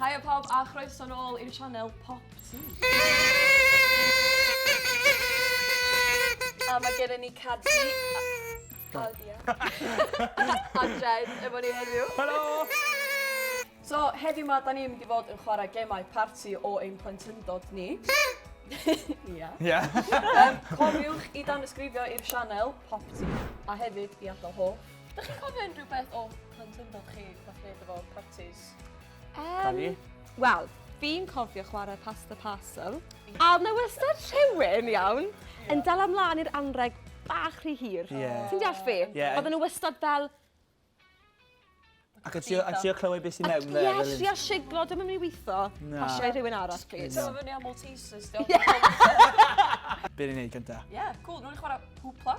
Haia pawb a chroeso'n ôl i'r sianel Pop Tŵ. A mae gen i ni Caddi. O, dia. Adren, efo ni heddiw. Helo! So, heddiw ma, da ni'n mynd i fod yn chwarae gemau parti o ein plentyndod ni. Ia. Ia. um, cofiwch i dan ysgrifio i'r sianel Popty, a hefyd i adael ho. Da chi'n cofio unrhyw beth o plentyndod chi, fath beth efo parties? Um, Wel, fi'n cofio chwarae Pass the Parcel. A mae wastad rhywun, iawn, yn dal amlaen i'r anreg bach rhy hir. Yeah. Ti'n deall fi? Yeah. Oedden nhw wastad fel... Ac ti o clywed beth sy'n mewn there? Ie, ti o siglo, dyma mi weitho. Na. Pasiau rhywun arall, please. Ti'n meddwl fyny am Maltesers, diolch. Be ni'n neud gyda? Ie, cool. Rwy'n chwarae hwpla.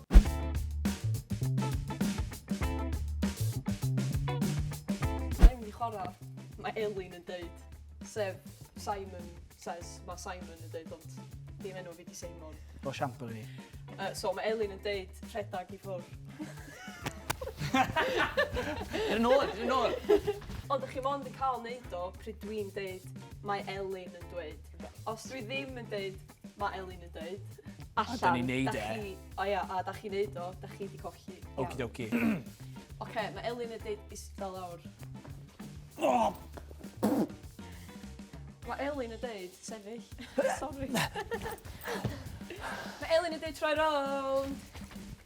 chwarae, mae Elin yn deud, sef Simon says, mae Simon yn deud, ond dim enw fi di Simon. O siampo fi. Uh, so mae Elin yn deud, rhedag i ffwrdd. Yr yn ôl, yr yn ôl. Ond ydych chi mond yn cael neud o pryd dwi'n deud mae Elin yn dweud. Os dwi ddim yn deud Mae Elin yn dweud. Allan. A da ni'n neud e. O ia, a da chi'n neud o, da chi di colli. Okie dokie. Oce, mae Elin yn dweud isda lawr. Oh! Mae Elin yn deud sefyll. Sorry. Mae Elin yn deud troi rownd.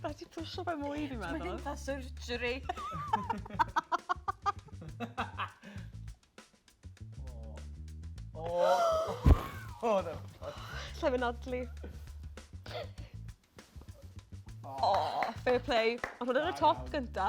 Mae 'di pwsio fe mwy fi'n meddwl. Mae dim fel surgery. O! O! O! Lle fe nadlu. O! Fair play. Ond hwn yn y top gynta.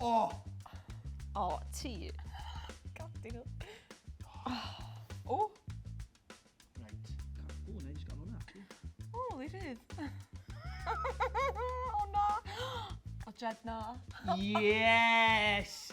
O! O, ti. Gadi nhw. O! O, na i jyst gael hwnna. O, li rhydd. O na! O, Jed na. Yes!